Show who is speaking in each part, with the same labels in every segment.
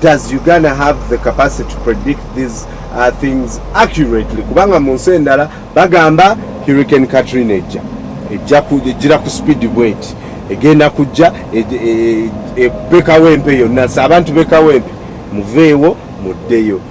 Speaker 1: Does Uganda have the capacity to predict these uh, things accurately? Kubanga mu nsi endala bagamba Hurricane Katrina ejja ejja kujira ku speed bweti egenda kujja ebekawo e, e, empe yonna nsi abantu bekawo empe muveewo muddeyo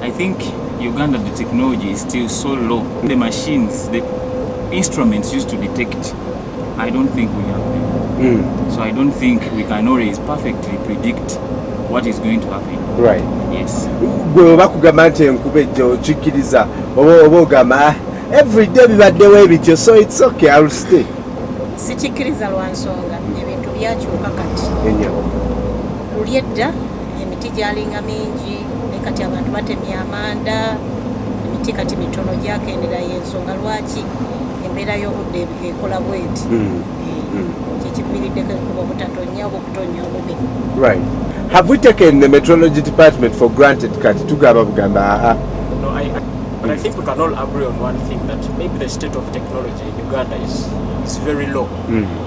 Speaker 2: I
Speaker 1: think
Speaker 2: Uganda the technology is still so low. The machines, the instruments used to detect, I don't think we have them. Mm. So I don't think we can always perfectly predict what is going to happen. Right. Yes. Gwe bakugamba
Speaker 1: nti enkuba ejja okikkiriza oba ogamba ah, every day bibaddewo ebityo so it's okay I'll stay. Sikikkiriza
Speaker 3: lwa nsonga ebintu byakyuka kati. Enyo. Luli edda emiti gyalinga mingi naye kati abantu batemya amanda emiti kati mitono gyakendera yensonga lwaki embeera y'obudde ekola bweti hmm. eh, hmm. kyekiviiriddeko ekuba obutatonya oba okutonya obubi right
Speaker 1: have we taken the metrology department for granted kati tugamba bugamba aa But
Speaker 4: I think we can all agree on one thing that maybe the state of technology in Uganda is, is very low. Mm.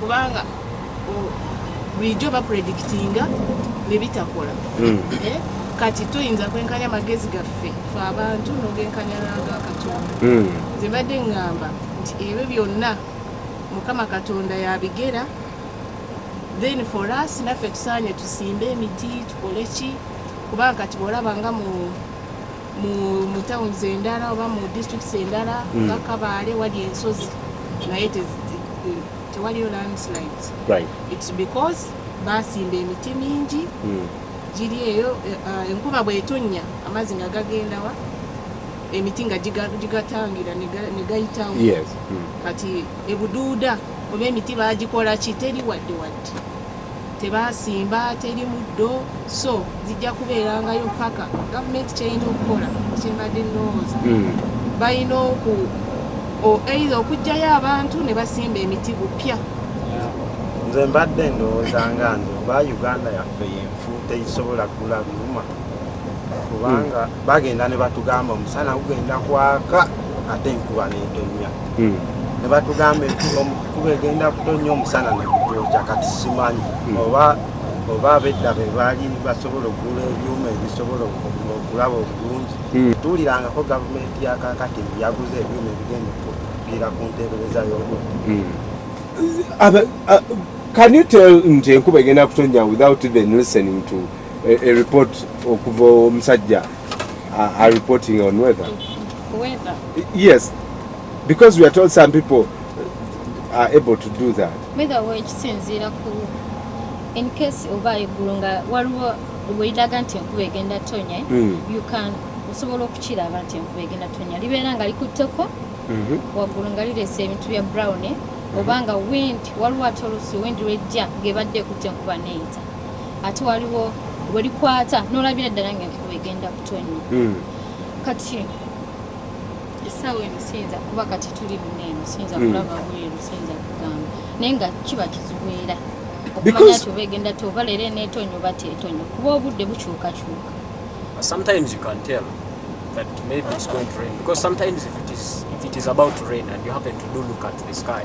Speaker 5: kubanga bulijjo bapredikitinga nebitakola hmm. eh, kati tuyinza kwenkanya amagezi gaffe fe abantu nogenkanya naga katonda hmm. zebadde ngamba nti ebyo byonna mukama katonda yabigera then for us naffe tusaanye tusimbe emiti tukole ki kubanga kati bwolaba nga mu mu towns endala oba mu districts endala mm. nga kabaale wali ensozi naye tewaliyo landslide its
Speaker 1: because
Speaker 5: basimba emiti mingi mm. giri eyo eh, eh, enkuba bwetonnya amazzi nga gagendawa emiti nga gigatangira negayitawo mm.
Speaker 1: kati
Speaker 5: ebuduuda oba emiti bagikola ki teri wadde wadde tebaasimba teri muddo so zijja kubeerangayo paka gavumenti kyeyina okukola kyembadde nowooza hmm. balina oku eitha okugjayo abantu ne basimba emiti bupya
Speaker 6: nze mbadde ndowooza nga nze oba uganda yaffe yenfu teyisobola kugula byuma kubanga hmm. bagenda ne batugamba omusana gugenda kwaka ate enkuba netonnya hmm. ne batugamba enkuba egenda kutonnya omusana nekutokya kati simanyi hmm. oba oba abedda be baali basobola okugula ebyuma ebisobola okulaba obulungi hmm. tuwulirangako gavumenti yakakati yaguza ebyuma ebigenda okupiira ku nteebereza y'obudde Can you tell
Speaker 1: nti enkuba egenda kutonnya without even listening to a, a report okuva omusajja uh, are reporting on weather. Weather?
Speaker 3: Yes,
Speaker 1: because we are told some people are able to do that. Weather wa ekisinziira
Speaker 7: ku in case oba eggulu nga waliwo bweliraga nti enkuba egenda tonya mm. you can osobola okukiraba nti enkuba egenda tonya libeera nga likutteko mm-hmm. waggulu nga lireese ebintu bya brown eh? mm-hmm. oba nga wind waliwo ate oluusi wind lwejja ng'ebadde ekutte enkuba neyita ate waliwo welikwata nolabira ddala nga enkuba egenda kutonnya hmm. kati esaawa eno siyinza kuba kati tuli muneeno siyinza hmm. kulaba bweru siyinza kugamba naye nga kiba kizubeera okumanya ti oba egenda ti oba leero eneetonnya oba teetonnya kuba obudde bukyukakyuka sometimes
Speaker 4: you can tell that maybe it's going to rain because sometimes if it is if it is about to rain and you happen to do look at the sky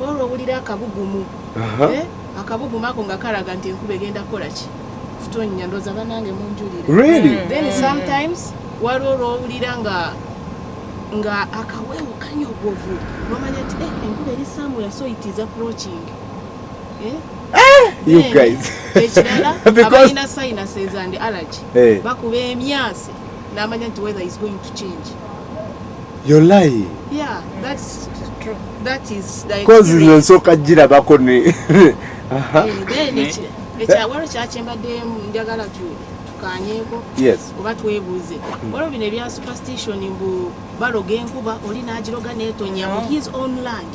Speaker 5: olwo owulira akabugumu eh? akabugumu ako nga kalaga nti enkuba egenda kukola ki kutonnya ndooza banange munjulire hmm. then
Speaker 1: sometimes
Speaker 5: waliwo olwowulira nga nga akaweewo kanyogovu nomanya nti eh, enkuba eri samuel so it is approaching eh?
Speaker 1: Eh, you guys ekirala
Speaker 5: abalina sinuses and allergy bakuba emyasi namanya nti weather is going to change
Speaker 1: You're lying. Yeah,
Speaker 5: that's true. That is the Cause nze nsooka
Speaker 1: girabako ne eh, then eh?
Speaker 5: ekyawalo kyakyembaddemu njagala tukanyeko oba
Speaker 1: twebuuze
Speaker 5: hmm. waliwo bino ebya superstition mbu baloga enkuba oli n'agiroga n'etonya mu oh. his own land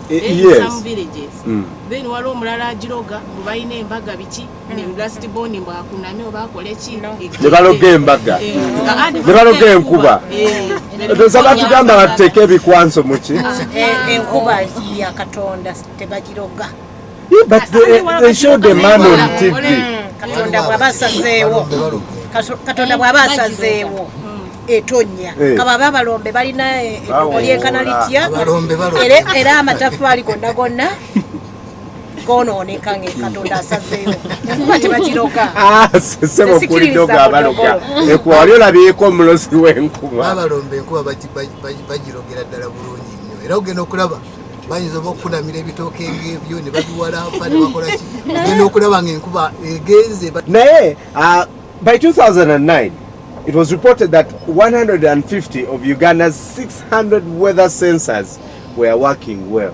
Speaker 5: eh, some villages hmm. then waliwo omulala agiroga mbu balina embaga biki nebaloga
Speaker 1: embaga nebaloga enkuba eza batugamba batuteeka ebikwanso muki
Speaker 3: but
Speaker 1: they, they showed a man on TV katonda bwaba
Speaker 3: asazeewo katonda bwaba asazeewo etonya eh. kaba babalombe balina eh, enkana litya era amatafaali gonna gonna gonooneka nga katonda asazeeyo enkuba tebagiroga ah, sebo
Speaker 1: kulidoga abaloga ekuba wali olabyeko omulozi w'enkuba abalomba enkuba
Speaker 8: bagirogera ddala bulungi nnyo era ogenda okulaba bayinza oba okukunamira ebitooke ngebyo ne babiwalampa ne bakolaki ogenda okulaba nga enkuba egenze naye ah,
Speaker 1: by 2009 it was reported that 150 of uganda's 600 weather sensors were working well